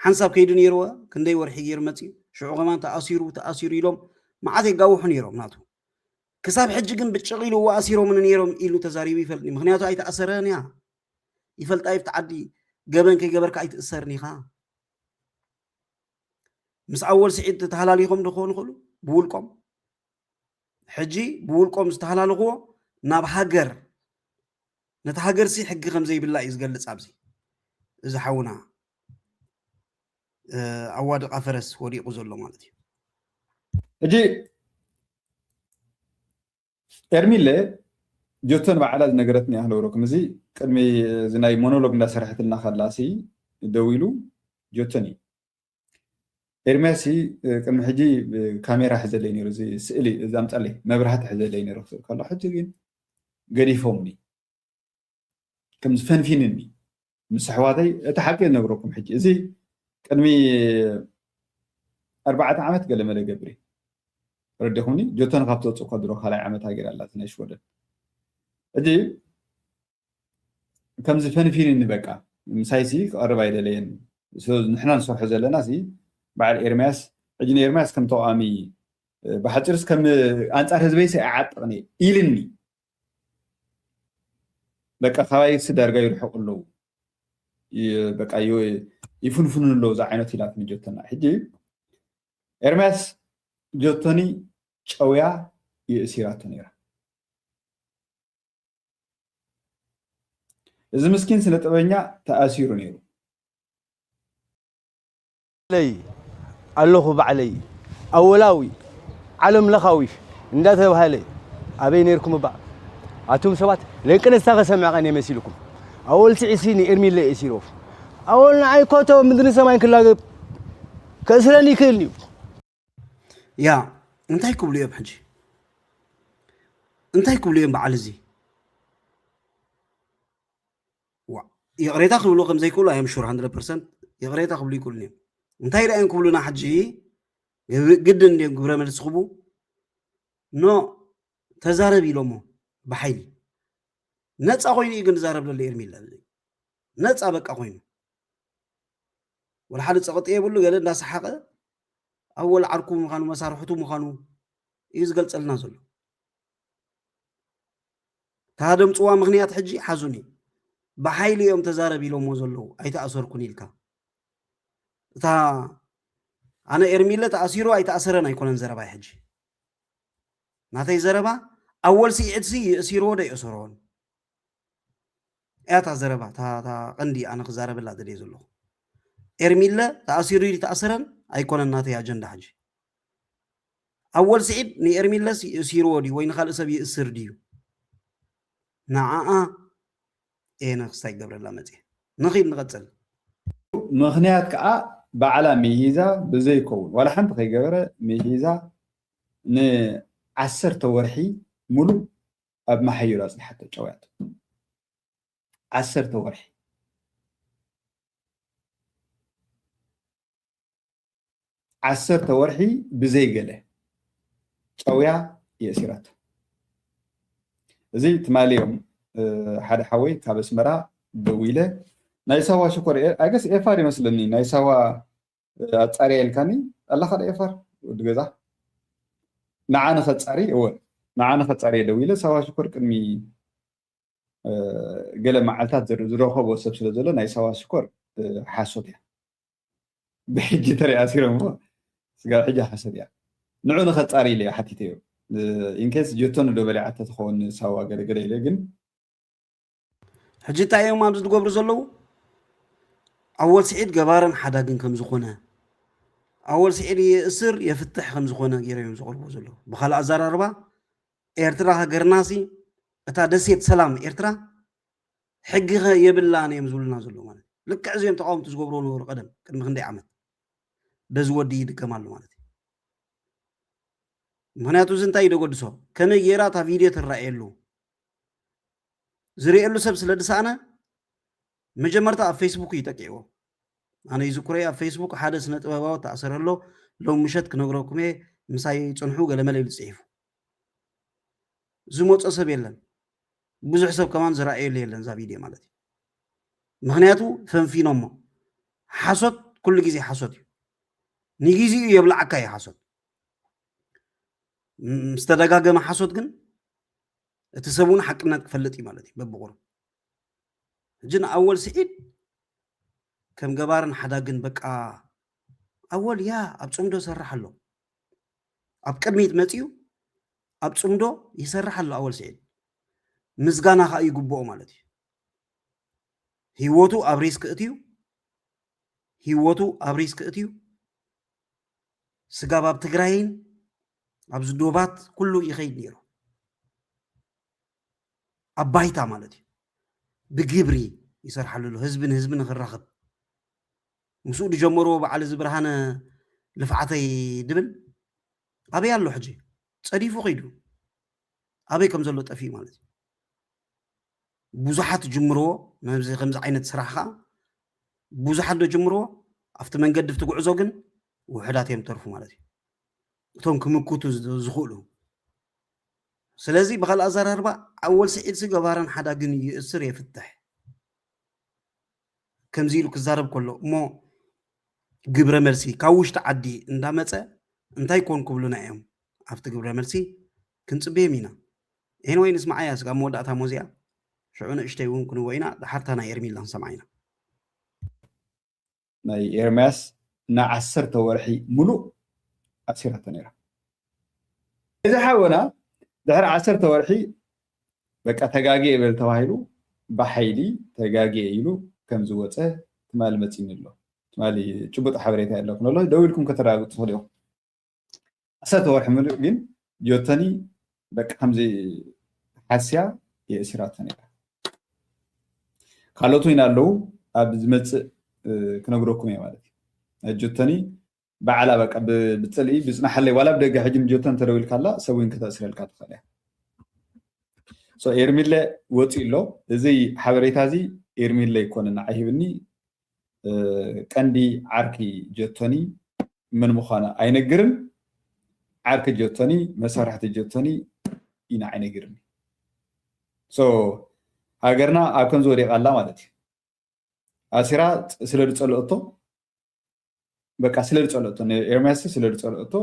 ሓንሳብ ከይዱ ነይርዎ ክንደይ ወርሒ ገይሩ መፅዩ ሽዑ ከማን ተኣሲሩ ተኣሲሩ ኢሎም መዓት የጋውሑ ነይሮም ናቱ ክሳብ ሕጂ ግን ብጭቕ ኢሉ ኣሲሮምኒ ነይሮም ኢሉ ተዛሪቡ ይፈልጥኒ ምክንያቱ ኣይተኣሰረን እያ ይፈልጣ ይብቲ ዓዲ ገበን ከይገበርካ ኣይትእሰርን ኢኻ ምስ ኣወል ስዒድ ተተሃላሊኾም ዶ ክኾኑ ይኽእሉ ብውልቆም ሕጂ ብውልቆም ዝተሃላለኽዎ ናብ ሃገር ነቲ ሃገርሲ ሕጊ ከም ዘይብላ እዩ ዝገልጽ ኣብዚ እዚ ሓውና ኣዋድቃ ፈረስ ወዲቑ ዘሎ ማለት እዩ ሕጂ ኤርሚለ ጆቶ ንባዕላ ዝነገረትኒ ኣህለውሮ ክምዚ ቅድሚ እዚ ናይ ሞኖሎግ እንዳሰራሕትልና ከላሲ ደዊሉ ጆቶኒ ኤርሚያሲ ቅድሚ ሕጂ ካሜራ ሕዘለይ ነይሩ እዚ ስእሊ እዛ ኣምጻለይ መብራህቲ ሕዘለይ ነይሩ ክስእል ከሎ ሕጂ ግን ገዲፎምኒ ከምዚ ፈንፊንኒ ምስ ኣሕዋተይ እቲ ሓቂ ነግረኩም ሕጂ እዚ ቅድሚ ኣርባዕተ ዓመት ገለ መለ ገብሪ ረዲኹምኒ ጆቶን ካብ ተውፅእ ከድሮ ካልኣይ ዓመት ሃገር ኣላ ናይ ሽወደን ሕጂ ከምዚ ፈንፊንኒ በቃ ምሳይሲ ክቐርብ ኣይደለየን ንሕና ንሰርሖ ዘለና ሲ በዓል ኤርምያስ ሕጂ ንኤርምያስ ከም ተቃዋሚ ብሓፂርስ ከም ኣንፃር ህዝበይሲ ኣይዓጥቕኒ ኢልኒ በቃ ካባይሲ ዳርጋ ይርሕቁ ኣለዉ በቃ ይፍንፍኑ ኣለዉ እዛ ዓይነት ኢላትኒ ጆቶና ሕጂ ኤርምያስ ጆቶኒ ጨውያ የእሲራቶ ነይራ እዚ ምስኪን ስነ ጥበበኛ ተኣሲሩ ነይሩ ባዕለይ ኣለኹ ባዕለይ ኣወላዊ ዓለም ለኻዊ እንዳ ተባህለ ኣበይ ነርኩም እባ ኣቱም ሰባት ለንቅነስታ ከሰምዕ ቀን የመሲልኩም ኣወል ትዕሲ ንኤርሚለ ኤሲሮፍ ኣወል ንዓይ ኮቶ ምድሪ ሰማይን ክላገብ ከእስረኒ ይክእል እዩ ያ እንታይ ክብሉ እዮም ሕጂ እንታይ ክብሉ እዮም በዓል እዚ ይቕሬታ ክብሉ ከም ዘይክእሉ ኣዮም ሹር 100 ፐርሰንት ይቕሬታ ክብሉ ይክእሉን እዮም እንታይ ደኣ እዮም ክብሉና ሕጂ ግድን እንዲዮም ግብረ መልሲ ክቡ ኖ ተዛረብ ኢሎሞ ብሓይሊ ነፃ ኮይኑ እዩ ግን ዝዛረብ ዘሎ ኤርሚለ ነፃ በቃ ኮይኑ ወላ ሓደ ፀቕጢ የብሉ ገለ እንዳሰሓቐ ኣወል ዓርኩ ምዃኑ መሳርሕቱ ምዃኑ እዩ ዝገልጸልና ዘሎ ታደምጽዋ ምክንያት ሕጂ ሓዙኒ ብሓይሊ እዮም ተዛረብ ኢሎሞ ዘለዉ ኣይተኣሰርኩን ኢልካ እታ ኣነ ኤርሚለ ተኣሲሩ ኣይተኣሰረን ኣይኮነን ዘረባይ ሕጂ ናተይ ዘረባ ኣወል ስዒድሲ ይእሲርዎ ዶ ይእሰሮን እያ እታ ዘረባ እታ ቀንዲ ኣነ ክዛረበላ ደልየ ዘለኹ ኤርሚለ ተኣሲሩ እዩ ተኣሰረን ኣይኮነን ናተይ ኣጀንዳ ሕጂ ኣወል ስዒድ ንኤርሚለ ሲርዎ ድዩ ወይ ንካልእ ሰብ ይእስር ድዩ ንዓኣ እየ ነክስታይ ገብረላ መፅየ ንኺድ ንቐፅል ምክንያት ከዓ ባዕላ ሚሂዛ ብዘይከውን ዋላ ሓንቲ ከይገበረ ሚሂዛ ንዓሰርተ ወርሒ ሙሉእ ኣብ ማሐዩር ኣጽኒሓቶ ጨውያቶ ዓሰርተ ወርሒ። ዓሰርተ ወርሒ ብዘይ ገለ ጨውያ የእሲራቶ። እዚ ትማሊ እዮም ሓደ ሓወይ ካብ ኣስመራ ደዊለ ናይ ሳዋ ሽኮር ኣይገስ ኤፋር ይመስለኒ ናይ ሳዋ ኣጻርያ ኢልካኒ ኣላኻ ዶ ኤፋር ወዲ ገዛ ንዓ ንኸጻሪ እወ ንዓ ንኸጻሪ እየ ደው ኢለ ሳባ ሽኮር ቅድሚ ገለ መዓልታት ዝረኸቦ ሰብ ስለ ዘሎ ናይ ሳባ ሽኮር ሓሶት እያ ብሕጂ ተሪኣ ሲሮም ስጋብ ሕጂ ሓሶት እያ ንዑ ንኸጻሪ ኢለ ሓቲተዮ ኢንኬስ ጀቶን ዶ በሊዓ ተትኸውን ሳዋ ገለገለ ኢለ ግን ሕጂ እንታይ እዮም ኣብዚ ዝገብሩ ዘለዉ ኣወል ስዒድ ገባርን ሓዳግን ከም ዝኾነ ኣወል ስዒድ የእስር የፍትሕ ከም ዝኾነ ገይረ እዮም ዘቕርቡ ዘለዉ ብካልእ ኣዘራርባ ኤርትራ ሃገርና ሲ እታ ደሴት ሰላም ኤርትራ ሕጊ ኸ የብላን እዮም ዝብሉና ዘለዉ ማለት ልክዕ እዚኦም ተቃወምቲ ዝገብርዎ ነበሩ ቀደም ቅድሚ ክንደይ ዓመት በዚ ወዲ ይድገም ኣሎ ማለት እዩ ምክንያቱ እዚ እንታይ እዩ ደገድሶ ከመይ ገይራ እታ ቪድዮ ትረኣየሉ ዝርእየሉ ሰብ ስለ ዝሰኣነ መጀመርታ ኣብ ፌስቡክ እዩ ጠቂዕዎ ኣነ ይዝክሮ ኣብ ፌስቡክ ሓደ ስነ ጥበባዊ ተኣሰረ ኣሎ ሎም ምሸት ክነግረኩም እየ ምሳይ ፅንሑ ገለመለ ኢሉ ፅሒፉ ዝመፆ ሰብ የለን ብዙሕ ሰብ ከማን ዝረኣየሉ የለን እዛ ቪድዮ ማለት እዩ ምክንያቱ ፈንፊኖሞ ሓሶት ኩሉ ግዜ ሓሶት እዩ ንግዜኡ የብላዓካ እዩ ሓሶት ምስተደጋገመ ሓሶት ግን እቲ ሰብ እውን ሓቅነት ክፈልጥ እዩ ማለት እዩ በብቑሩ ሕጂ ንኣወል ስዒድ ከም ገባርን ሓዳግን በቃ ኣወል ያ ኣብ ፅምዶ ሰራሕ ኣሎ ኣብ ቅድሚት መፅኡ ኣብ ፅምዶ ይሰርሕ ኣሎ ኣወል ስዒድ ምስጋና ከዓ ይግብኦ ማለት እዩ ህይወቱ ኣብ ሪስክ እትዩ ህይወቱ ኣብ ሪስክ እትዩ ስጋብ ኣብ ትግራይን ኣብዚ ዶባት ኩሉ ይኸይድ ነይሩ ኣብ ባይታ ማለት እዩ ብግብሪ ይሰርሓሉ ኣሎ ህዝቢ ንህዝቢ ንክራኸብ ምስኡ ዝጀመርዎ በዓል እዚ ብርሃነ ልፍዓተይ ድብል ኣበይ ኣሎ ሕጂ ጸዲፉ ከይዱ ኣበይ ከም ዘሎ ጠፊኡ ማለት እዩ ብዙሓት ጅምርዎ ነዚ ከምዚ ዓይነት ስራሕ ከኣ ብዙሓት ዶ ጅምርዎ ኣብቲ መንገዲ ኣብቲ ጉዕዞ ግን ውሑዳት እዮም ተርፉ ማለት እዩ እቶም ክምክቱ ዝኽእሉ ስለዚ ብካልእ ኣዘራርባ ኣወል ስዒድሲ ገባርን ሓዳግን ይእስር የፍትሕ ከምዚ ኢሉ ክዛረብ ከሎ እሞ ግብረ መልሲ ካብ ውሽጢ ዓዲ እንዳመፀ እንታይ ኮን ክብሉና እዮም ኣብቲ ግብረ መልሲ ክንፅበዮም ኢና ኤንወይ ንስማዓያ ስጋብ መወዳእታ ሞዚኣ ሽዑ ንእሽተይ እውን ክንዎ ኢና ዳሓርታ ናይ ኤርሚላ ክንሰምዓ ኢና ናይ ኤርምያስ ንዓሰርተ ወርሒ ሙሉእ ኣሲራቶ ነይራ እዚ ሓወና ድሕሪ ዓሰርተ ወርሒ በቃ ተጋግየ በል ተባሂሉ ብሓይሊ ተጋግየ ኢሉ ከም ዝወፀ ትማሊ መፂኒ ኣሎ። ትማሊ ጭቡጥ ሓበሬታ የለኩን ኣሎ ደው ኢልኩም ከተረጋግፁ ትኽእሉ ኢኹም። ዓሰርተ ወርሒ ምሉእ ግን ጆተኒ በቃ ከምዚ ሓስያ የእሲራቶ ነይራ። ካልኦት እውን ኣለዉ ኣብ ዝመፅእ ክነግረኩም እየ ማለት እዩ። ናይ ጆተኒ ባዕላ በቃ ብፅልኢ ብፅናሓለይ ዋላ ብደገ ሕጂ ንጆተን ተደዊልካላ ሰብ እውን ከተእስረልካ ትኽእል እያ ሶ ኤርሚለ ወፂኡ ኣሎ እዚ ሓበሬታ እዚ ኤርሚለ ይኮነ ንዓይ ሂብኒ ቀንዲ ዓርኪ ጀቶኒ ምን ምዃኑ ኣይነግርን ዓርኪ ጀቶኒ መሳርሕቲ ጀቶኒ እዩ ንዓይ ነግርኒ ሶ ሃገርና ኣብ ከምዚ ወዲቓ ኣላ ማለት እዩ ኣሲራ ስለ ዝፀልኦቶ በቃ ስለ ዝፀልኦቶ ንኤርምያስ ስለ ዝፀልኦቶ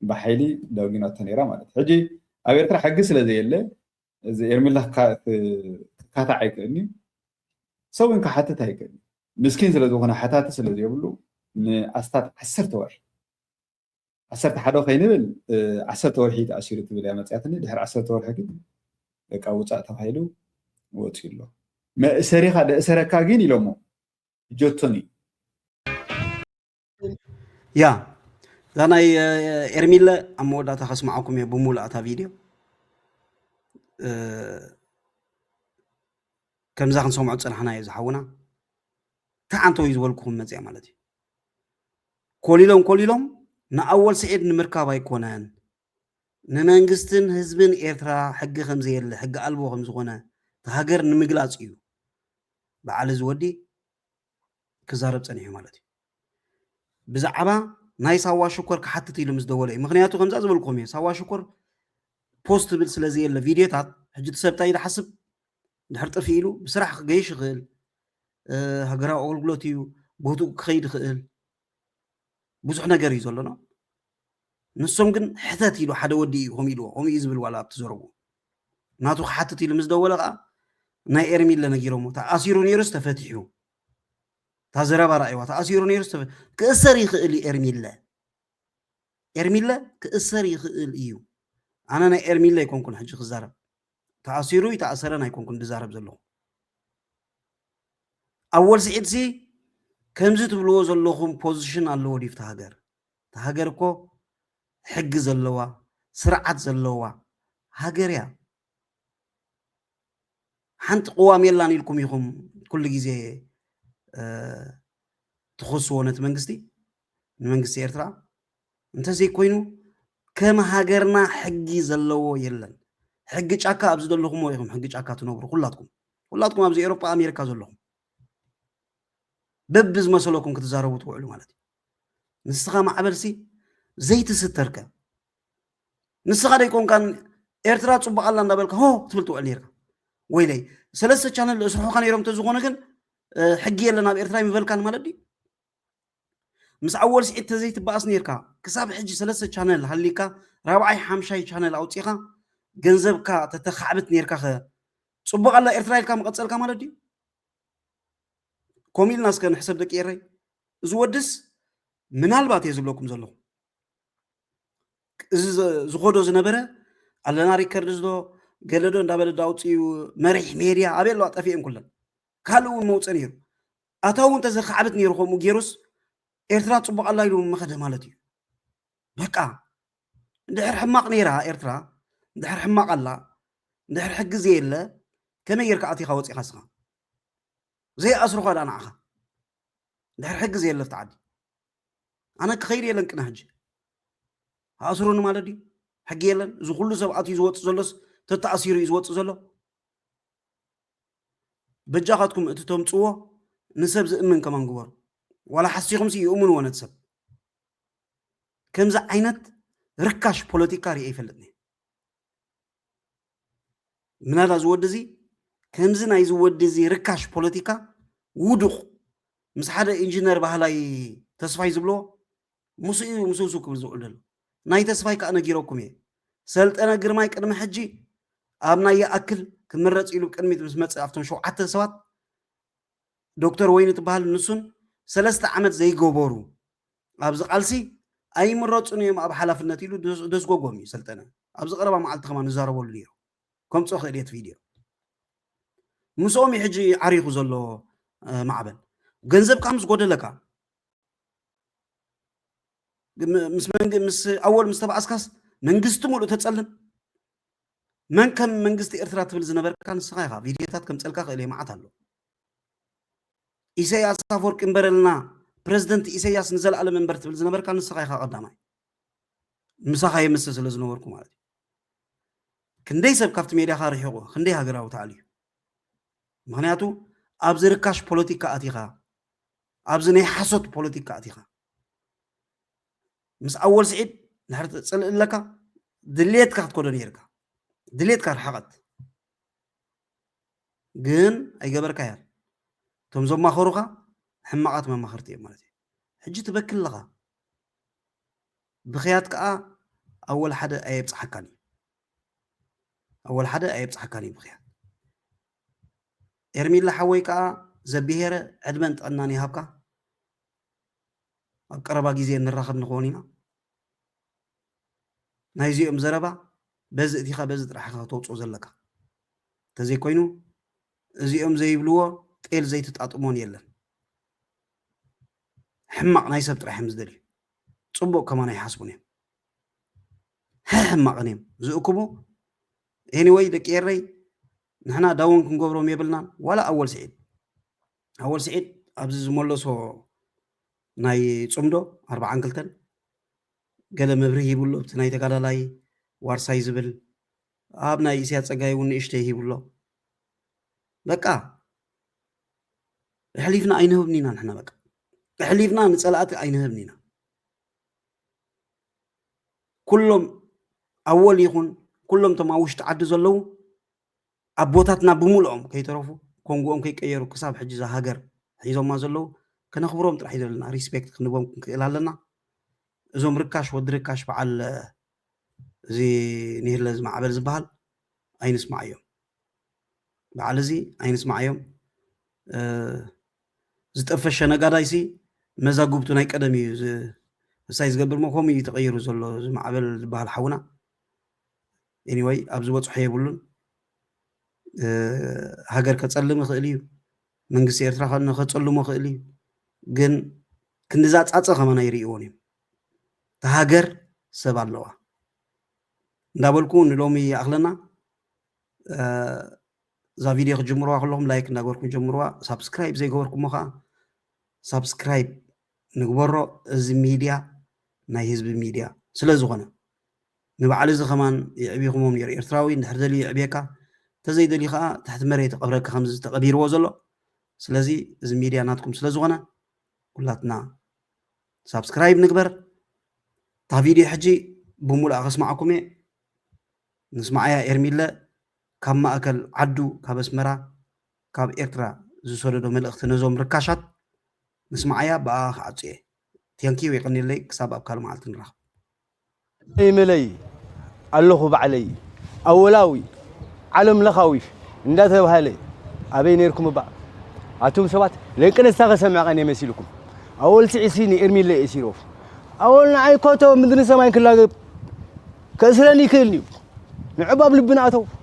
ብሓይሊ ዳውጊናቶ ነይራ ማለት እዩ ሕጂ ኣብ ኤርትራ ሕጊ ስለ ዘየለ እዚ ኤርሚላ ክካታዕ ኣይክእልኒ ሰብ እውን ክሓትት ኣይክእልኒ ምስኪን ስለ ዝኾነ ሓታቲ ስለ ዘይብሉ ንኣስታት ዓሰርተ ወርሒ ዓሰርተ ሓደ ከይንብል ዓሰርተ ወርሒ ተኣሲሩ ትብል እያ መፅያትኒ ድሕሪ ዓሰርተ ወርሒ ግን በቃ ውፃእ ተባሂሉ ወፂኡ ኣሎ መእሰሪኻ ደእሰረካ ግን ኢሎሞ ጆቶን እዩ ያ እዛ ናይ ኤርሚለ ኣብ መወዳእታ ከስማዓኩም እየ ብሙሉእ እታ ቪድዮ ከምዛ ክንሰምዖ ፅናሕና እዩ ዝሓውና እንታይ ዓንተው እዩ ዝበልኩኹም መፅያ ማለት እዩ ኮሊሎም ኮሊሎም ንኣወል ስዒድ ንምርካብ ኣይኮነን ንመንግስትን ህዝብን ኤርትራ ሕጊ ከምዘየለ ሕጊ ኣልቦ ከምዝኾነ እታ ሃገር ንምግላጽ እዩ በዓል እዚ ወዲ ክዛረብ ጸኒሑ ማለት እዩ ብዛዕባ ናይ ሳዋ ሽኮር ክሓትት ኢሉ ምስ ደወለ እዩ ምክንያቱ ከምዛ ዝበልኩም እዩ ሳዋ ሽኮር ፖስት ትብል ስለ ዘየለ ቪድዮታት ሕጂ እቲ ሰብ እንታይ ዝሓስብ ድሕር ጥፊ ኢሉ ብስራሕ ክገይሽ ይኽእል ሃገራዊ ኣገልግሎት እዩ ቦትኡ ክኸይድ ይኽእል ብዙሕ ነገር እዩ ዘሎና ንሶም ግን ሕተት ኢሉ ሓደ ወዲ እዩ ከምኡ ኢልዎ ከምኡ እዩ ዝብል ዋላ ኣብቲ ዘረቡ ናቱ ክሓትት ኢሉ ምስ ደወለ ከዓ ናይ ኤርሚለ ነጊሮሞ ተኣሲሩ ነይሩስ ተፈቲሑ እታ ዘረባ ረኣይዋ ተኣሲሩ ነይሩስ ክእሰር ይኽእል እዩ ኤርሚለ ኤርሚለ ክእሰር ይኽእል እዩ ኣነ ናይ ኤርሚለ ኣይኮንኩን ሕጂ ክዛረብ ተኣሲሩ ኣይተኣሰረን ኣይኮንኩን ድዛረብ ዘለኹ ኣወል ስዒድ ሲ ከምዚ ትብልዎ ዘለኹም ፖዚሽን ኣለዎ ድዩ ፍቲ ሃገር እቲ ሃገር እኮ ሕጊ ዘለዋ ስርዓት ዘለዋ ሃገር እያ ሓንቲ ቅዋም የላን ኢልኩም ኢኹም ኩሉ ግዜ ትኸስዎ ነቲ መንግስቲ ንመንግስቲ ኤርትራ እንተዘይኮይኑ ከም ሃገርና ሕጊ ዘለዎ የለን። ሕጊ ጫካ ኣብ ዝደለኹሞ ኢኹም ሕጊ ጫካ ትነብሩ ኩላትኩም ኩላትኩም ኣብዚ ኤሮጳ ኣሜሪካ ዘለኹም በቢ ዝመሰለኩም ክትዛረቡ ትውዕሉ ማለት እዩ ንስኻ ማዕበልሲ ዘይትስተርከ ንስኻ ደይኮንካን ኤርትራ ፅቡቅ ኣላ እንዳበልካ ሆ ትብል ትውዕል ነርካ ወይለይ ሰለስተ ቻነል እስርሑካ ነይሮም ተዝኾነ ግን ሕጊ የለን ኣብ ኤርትራ ይምበልካን ማለት ድዩ ምስ ኣወል ስዒድ ተዘይትባኣስ ኔርካ ክሳብ ሕጂ ሰለስተ ቻነል ሃሊካ ራብዓይ ሓምሻይ ቻነል ኣውጺኻ ገንዘብካ ተተካዕብት ኔርካ ከ ጽቡቅ ኣላ ኤርትራ ኢልካ ምቀጸልካ ማለት ድዩ ኮም ኢልና እስከ ንሕሰብ ደቂ ኤረይ እዚ ወድስ ምናልባት እየ ዝብለኩም ዘለኹ እዚ ዝኮዶ ዝነበረ ኣለና ሪከርድ ዝዶ ገለዶ እንዳበለ ዳውፅኡ መሪሕ ሜድያ ኣበይ ኣለዋ ጠፊኤን ኩለን ካልእ እውን መውፀ ነይሩ ኣታዊ እንተዘ ካዕብት ነይሩ ከምኡ ገይሩስ ኤርትራ ጽቡቕ ኣላ ኢሉ ምኸደ ማለት እዩ በቃ እንድሕር ሕማቕ ነይራ ኤርትራ እንድሕር ሕማቕ ኣላ እንድሕር ሕጊ ዘየለ ከመይ ጌርካ ኣቲኻ ወፂኻ ስኻ ዘይኣስሩኻ ዳ ንዓኻ እንድሕር ሕጊ ዘየለ ፍቲ ዓዲ ኣነ ክኸይድ የለን ቅነ ሕጂ ኣእስሩኒ ማለት ድዩ ሕጊ የለን እዚ ኩሉ ሰብ ኣትዩ ዝወፅእ ዘሎስ ተተኣሲሩ እዩ ዝወፅእ ዘሎ በጃኻትኩም እቲ ተምጽዎ ንሰብ ዝእምን ከማን ግበሩ ዋላ ሓሲኹም ሲ ይእምንዎ ነቲ ሰብ ከምዚ ዓይነት ርካሽ ፖለቲካ ርኤ ይፈልጥኒ ምናዳ ዝወዲ እዚ ከምዚ ናይ ዝወዲ እዚ ርካሽ ፖለቲካ ውዱቕ ምስ ሓደ ኢንጂነር ባህላይ ተስፋይ ዝብሎ ምስኡ እዩ ምስሱ ክብል ዝውዕል ዘሎ ናይ ተስፋይ ከዓ ነጊረኩም እየ ሰልጠነ ግርማይ ቅድሚ ሕጂ ኣብ ናይ ይኣክል ክምረፅ ኢሉ ቅድሚት ምስ መፅእ ኣብቶም ሸውዓተ ሰባት ዶክተር ወይኒ ትበሃል ንሱን ሰለስተ ዓመት ዘይገበሩ ኣብዚ ቃልሲ ኣይምረፁን እዮም ኣብ ሓላፍነት ኢሉ ደስጎጎም እዩ ሰልጠነ ኣብዚ ቀረባ መዓልቲ ከማ ንዛረበሉ ነይሩ ከምፆ ክእልየት ቪድዮ ምስኦም እዩ ሕጂ ዓሪኹ ዘሎ ማዕበል ገንዘብካ ምስ ጎደለካ ምስ ኣወል ምስ ተባኣስካስ መንግስቲ ሙሉእ ተፀልም መን ከም መንግስቲ ኤርትራ ትብል ዝነበርካ ንስኻ ኢኻ ቪድዮታት ከምፀልካ ክእል እየ መዓት ኣሎ ኢሰያስ ኣፈወርቂ እምበረልና ፕረዚደንት ኢሰያስ ንዘለኣለም እምበር ትብል ዝነበርካ ንስኻ ኢኻ ቀዳማይ ምሳኻ የምሰ ስለ ዝነበርኩ ማለት እዩ ክንደይ ሰብ ካብቲ ሜድያኻ ርሒቑ ክንደይ ሃገራዊ ተኣልዩ ምክንያቱ ኣብዚ ርካሽ ፖለቲካ ኣቲኻ ኣብዚ ናይ ሓሶት ፖለቲካ ኣቲኻ ምስ ኣወል ስዒድ ድሕሪ ትፅልእ ኣለካ ድሌትካ ክትኮዶ ነይርካ ድሌትካ ርሓቐት ግን ኣይገበርካያን እቶም ዘማኸሩኻ ሕማቓት መማኸርቲ እዮም ማለት እዩ ሕጂ ትበኪ ኣለኻ ብክያት ከዓ ኣወል ሓደ ኣየብፅሓካን እዩ ኣወል ሓደ ኣየብፅሓካን እዩ ብክያት ኤርሚለ ሓወይ ከኣ ዘቢሄረ ዕድመን ጥዕናን ይሃብካ ኣብ ቀረባ ግዜ ንራኸብ ንኾን ኢና ናይ እዚኦም ዘረባ በዚ እቲኻ በዚ ጥራሕ ኢኻ ከተውፅኦ ዘለካ እንተዘይኮይኑ እዚኦም ዘይብልዎ ጤል ዘይትጣጥሞን የለን ሕማቕ ናይ ሰብ ጥራሕ እዮም ዝደልዩ ፅቡቕ ከማን ኣይሓስቡን እዮም ሕሕማቕን እዮም ዝእክቡ ኤኒወይ ደቂ ኤረይ ንሕና ዳውን ክንገብሮም የብልናን ዋላ ኣወል ስዒድ ኣወል ስዒድ ኣብዚ ዝመለሶ ናይ ፅምዶ ኣርባዓን ክልተን ገለ መብርህ ይብሎ እቲ ናይ ተጋዳላይ ዋርሳይ ዝብል ኣብ ናይ እስያ ፀጋይ እውን ንእሽተ ይብሎ በቃ እሕሊፍና ኣይንህብን ኢና ንሕና በቃ እሕሊፍና ንፀላእቲ ኣይንህብን ኢና ኩሎም ኣወል ይኹን ኩሎም እቶም ኣብ ውሽጢ ዓዲ ዘለዉ ኣቦታትና ብምልኦም ከይተረፉ ኮንጎኦም ከይቀየሩ ክሳብ ሕጂ እዛ ሃገር ሒዞማ ዘለዉ ከነኽብሮም ጥራሕ እዩ ዘለና ሪስፔክት ክንቦም ክንክእል ኣለና እዞም ርካሽ ወዲ ርካሽ በዓል እዚ ንህለ ዝማዕበል ዝበሃል ኣይንስማዕ እዮም በዓል እዚ ኣይንስማዓዮም ዝጠፈሸ ነጋዳይ ሲ መዛግብቱ ናይ ቀደም እዩ ምሳይ ዝገብር ሞ ከምኡ እዩ ተቐይሩ ዘሎ ዝማዕበል ዝበሃል ሓውና ኤኒወይ ኣብዚ በፅሖ የብሉን ሃገር ከፀልም ይኽእል እዩ መንግስቲ ኤርትራ ከፀልሞ ይኽእል እዩ ግን ክንድዛ ፃፀ ከማና ይርእይዎን እዮም ሃገር ሰብ ኣለዋ እንዳበልኩ ንሎሚ ይኣኽለና። እዛ ቪድዮ ክትጅምርዋ ከለኹም ላይክ እንዳገበርኩም ጀምርዋ። ሳብስክራይብ ዘይገበርኩሞ ከዓ ሳብስክራይብ ንግበሮ። እዚ ሚድያ ናይ ህዝቢ ሚድያ ስለ ዝኾነ ንበዓል እዚ ከማን የዕቢኹሞም ነይሩ። ኤርትራዊ እንድሕር ደልዩ የዕብየካ፣ እንተዘይደልዩ ከዓ ትሕቲ መሬት ይቐብረካ ከምዚ ተቐቢርዎ ዘሎ። ስለዚ እዚ ሚድያ ናትኩም ስለ ዝኾነ ኩላትና ሳብስክራይብ ንግበር እታ ቪድዮ ሕጂ ብሙሉኣ ከስማዓኩም እየ ንስማዓያ ኤርሚለ ካብ ማእከል ዓዱ ካብ ኣስመራ ካብ ኤርትራ ዝሰደዶ መልእኽቲ ነዞም ርካሻት ንስማዓያ ብኣኣ ክዓጹ እየ ቴንኪው የቀኒለይ ክሳብ ኣብ ካልእ መዓልቲ ንራኸብ ኢመለይ ኣለኹ ባዕለይ ኣወላዊ ዓለም ለኻዊ እንዳ ተብሃለ ኣበይ ነርኩም እባ ኣቱም ሰባት ለንቅነስታ ከሰምዕ ቀን የመሲልኩም ኣወል ትዕሲ ንኤርሚለ ኤሲሮፍ ኣወል ንዓይ ኮቶ ምድሪ ሰማይ ክላገብ ከእስረኒ ይክእልኒ እዩ ንዕባብ ልብና ኣተው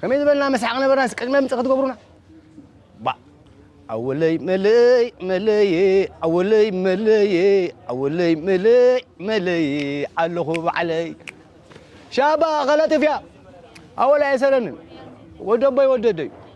ከመይ ዝበልና መስሓቕ ነበርና እስኪ ቅድመ ምጽእ ክትገብሩና ባእ ኣወለይ መለይ መለየ ኣወለይ መለየ ኣወለይ መለይ መለየ ኣለኹ ባዕለይ ሻባ ኸለጥፍያ ኣወል ኣይሰለንን ወደቦይ ወደደዩ